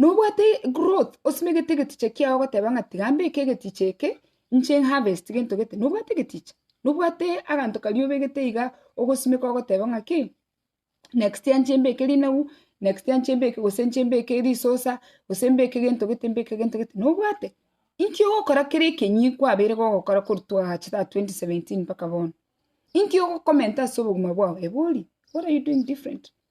Nobwate growth osimegete egeticha kiao ogoteba ng'a tiga mbeke egeticha eke inche harvest gento gete, nobwate egeticha, nobwate aganto karia obegete iga ogosimeka ogoteba ng'a ki, next year inche mbeke rinagu, next year inche mbeke gose inche mbeke risosa, gose mbeke gento gete mbeke gento gete, nobwate? Inki ogokora kera ekenyii kwabeire gogokora korwa twagacha tata 2017 mpaka bono? Inki ogokomenta ase obogima bwao? Eba oria, what are you doing different?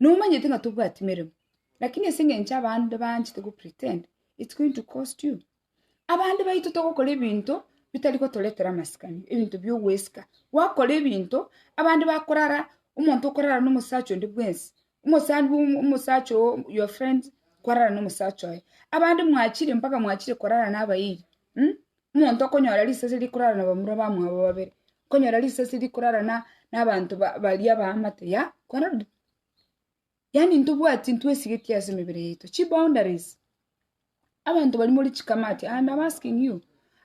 Nomanyete ng'a tobwati meremo, lakini ase engencho abande banchete go pretend, it's going to cost you. Abande baito togokora ebinto bitari gotoretera amasikani, ebinto bia ogwesika. Gwakora ebinto, abande bakorara, omonto okorara na omosacha onde bwensi, omosani bwa omo- omosacha oo your friend, kwarara na omosacha oye. Abande mwachire mpaka mwachire korara na abairi, um. Omonto okonyora risese rikorara nabamura bamwabo babere, okonyora risese rikorara na nabanto ba baria abaamate yea, korende yaani ntobwati ntwesigeti ase emebere yaito, chiboundaries, abanto baria more chikamati and am asking you,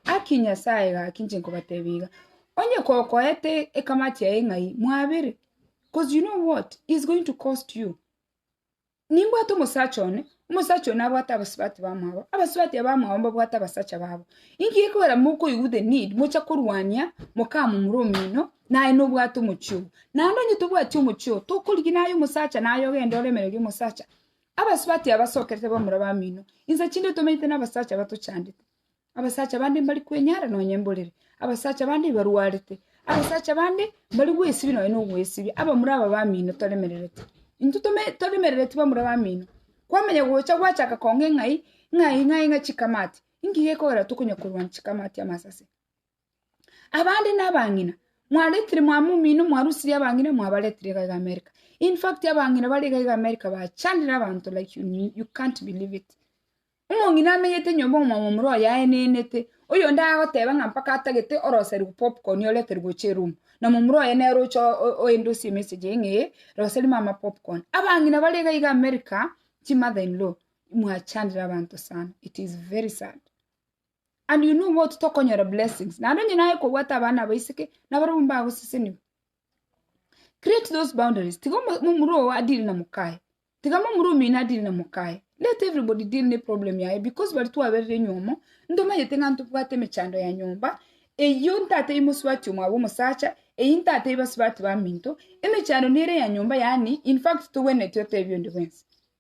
haki nyasaye iga haki inche nkobatebia iga, onye kokoete ekamati yaye ng'ai mwabere, 'cause you know what is going to cost you. Nimbwate omosacha one, omosacha oyo nabwate abasubati bamwabo, abasubati abamwabo mbabwate abasacha babo. Inki gekogera mokoigwa the need mocha korwania mokamomura omino naye nobwate omochie obo? Naende onye tobwati omochie obo, tokorigia naye omosacha naye ogende oremererie omosacha. Abasubati aba basokerete bamura bamino, inse chinde tomenyete nabasacha batochandete. Abasacha bande mbari kwenyara nonya emborera, abasacha bande barwarete, abasacha bande mbari gwesibia nonya nogwesibia, abamura aba bamino toremerereti. Intwe tome toremerereti bamura bamino, kwamanya gocha gwachaka kong'a eng'ai, ng'ai ng'ai ng'a chikamati, inki gekogera tokonya korwania chikamati amasase? Abande nabang'ina, mwaretire mwame omino mwarusirie abang'ina mwabaretire iga iga America. In fact abang'ina bare iga iga America bachandire abanto like you, you can't believe it. Omong'ina amenyete nyomba omwamo omura oye aenenete, oyonde agoteba ng'a mpaka atagete oroseria popcorn oreterwe gochia eroom, na momura oye nere oche o- o- oende osie emessage eye ng'a ee, roseria mama popcorn. Abang'ina bare iga iga America, chimother in law, mwachandire abanto sana, it is very sad. and you know what tokonyora blessings naende onye naye kobwata abana abaiseke nabarobwo mbagoseseniwa create those boundaries tiga omo- momura oo adire na mokaye tiga momura omino adire na mokaye let everybody deal ne problem yaye because bari twaberire nywomo ntomanyete ng'a ntobwate emechando ya nyomba eyio ntatebia mosubati omwabo omosacha eyi ntatebia basubati baminto emechando nere ya nyomba yaani infact togwenereti otebia onde bwensi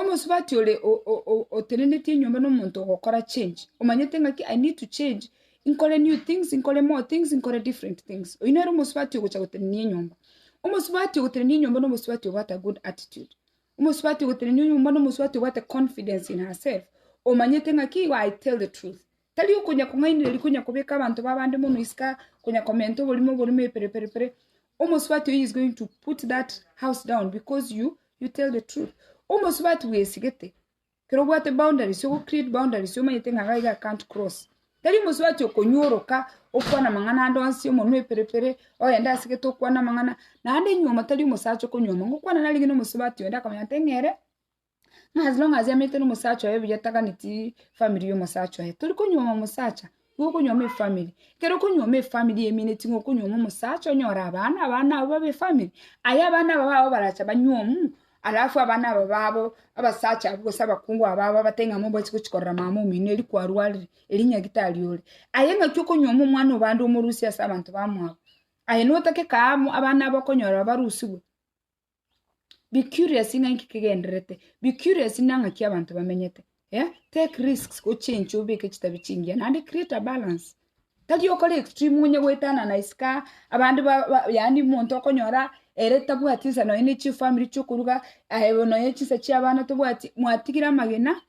Omosubati ore otenenetie enyomba nomonto ogokora change, omanyete ng'aki I need to change, nkore new things, nkore more things, nkore different things. Oyio nere omosubati ogocha gotenenia enyomba. Omosubati ogotenenia enyomba na omosubati obwate a good attitude. Omosubati ogotenenia enyomba na omosubati obwate confidence in herself, omanyete ng'aki I tell the truth, Tari okonya-kong'ainereria konya kobeka abanto b'abande mono isiko konya komenta oborimo oborimo epere pere pere. Omosubati oyio is going to put that house down because you you tell the truth. Omosubati bwesigete kero obwate boundaries ogo create boundaries omanyete ng'a iga I can't cross. Tari omosubati okonyoroka okwana amang'ana ande onsi omonwa epere pere ogende ase gete okwane amang'ana naende nyuoma tari omosacha okonywoma. Ngokwana narenge na omosubati onde akamanya ng'a ere. Ng'a as long as ameete nomosacha oye buya taganeti family yomosacha oye, tori konyuoma omosacha, nigo okonyuoma efamily. Ekero okonyuoma efamily emineti ng'a okonyuoma omosacha onyore abana, abana abwo babe efamily, aye abana aba babo baracha banyuomu, alafu abana aba babo, abasacha abwo gose abakungu aba babo batebie ng'a mobaisi gochi korora mama omino eri kwarwarire, eri nyagitari ore. Aye ng'aki okonyuoma omwana o bande omorusie ase abanto bamwabo, aye notake kaamu abana aba okonyora barusigwe. be curious ng'a inki kegendererete, be curious na ng'aki abanto bamenyete, eh, take risks ochenche obeke chitabi chingiya naende create a balance, tari okore extreme onye goetanana isiko aa, abande ba ba yaani omonto okonyora ere tabwati nsa nonya ne chifamiri chi'okoruga, aye bono nonya chinsa chi'abana tobwati, mwatigire amagena.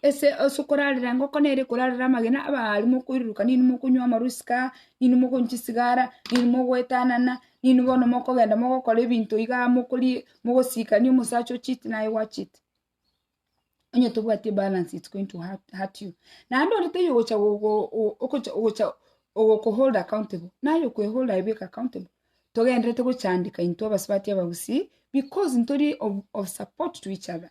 Ase ase okorarera engoko nere ekorarera amagena abaari mokoiruruka ninwe mokonywa amarusika, ninwe mokonywa chisigara, ninwe mogoetanana, ninwe bono mokogenda mogokora ebinto iga mokori mogosikania omosacha o cheat naye gwa cheat. Onye tobwati ebalance it's going to hurt hurt you. Naende onde taiyo ogocha go- go- go- okocha ogocha ogoku hold accountable, naye okwe hold aye bweka accountable. Togendererete gochandeka intwe abasubati abagusii, because ntori of of support to each other.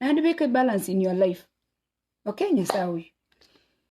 Naende beka ibalance in your life. Okay nyasae oyo.